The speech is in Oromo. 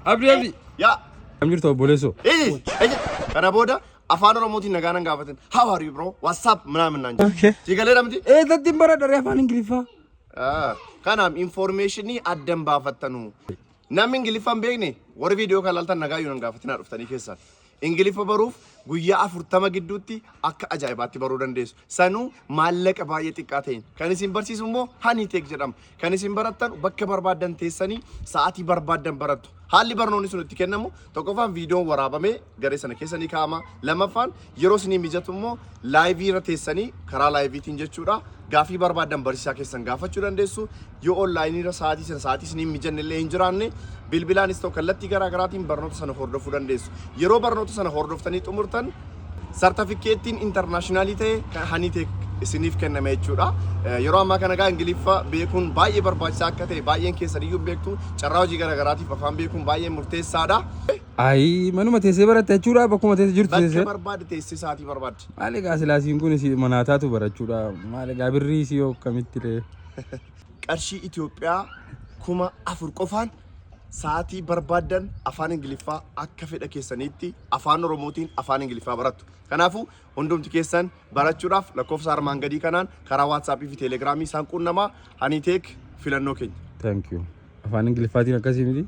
Abdi abdi. Yaa. Kam jirtu obboleessoo? Eeyi. Eeyi. Kana booda afaan Oromootiin nagaa nan gaafatin. How are you bro? What's up? Minaamin naan jedhu. Okay. Sii galee dhamti? Ee tattiin bara dharee afaan Ingiliffaa. Ah, Kanaaf infoormeeshinii addan baafattanu. Namni Ingiliffaa hin beekne warri viidiyoo kan laaltan nagaa yoo nan gaafatinaa dhuftanii keessaan. Ingiliffa baruuf guyyaa 40 gidduutti akka ajaa'ibaatti baruu dandeessu. Sanuu maallaqa baay'ee xiqqaa ta'een. Kan isin barsiisu immoo Haniiteek jedhama. Kan isin barattan bakka barbaaddan teessanii sa'aatii barbaaddan barattu. Haalli barnoonni sun itti kennamu tokkoffaan viidiyoon waraabamee garee sana keessa ni kaa'ama. Lamaffaan yeroo isinii mijatu immoo laayivii irra teessanii karaa laayiviitiin jechuudha Gaaffii barbaaddan barsiisaa keessan gaafachuu dandeessu. Yoo online irra sa'aatii sana sa'aatii isin hin mijanne illee hin jiraanne bilbilaanis ta'u kallattii garaa garaatiin barnoota sana hordofuu dandeessu. Yeroo barnoota sana hordoftanii xumurtan sartifikkeettiin intarnaashinaalii ta'e kan Haniitech isiniif kenname jechuudha. Yeroo ammaa kana egaa Ingiliffa beekuun baay'ee barbaachisaa akka ta'e baay'een keessan iyyuu beektu carraa hojii garaa garaatiif afaan beekuun baay'ee murteessaadha. Ayi manuma teessee baratte jechuudha bakkuma teesse jirtu Bakka teessee. barbaadde teessee sa'aatii barbaadde. Maal egaa silaa siin kun si manaa taatu barachuudha. Maal egaa birrii si yoo akkamitti ree. Qarshii Itoophiyaa kuma afur qofaan sa'aatii barbaaddan afaan Ingiliffaa akka fedha keessaniitti afaan Oromootiin afaan Ingiliffaa barattu. Kanaafuu hundumti keessan barachuudhaaf lakkoofsa armaan gadii kanaan karaa WhatsApp fi Telegram isaan quunnamaa Haniiteek filannoo keenya. Thank you. Afaan Ingiliffaatiin akkasii miti.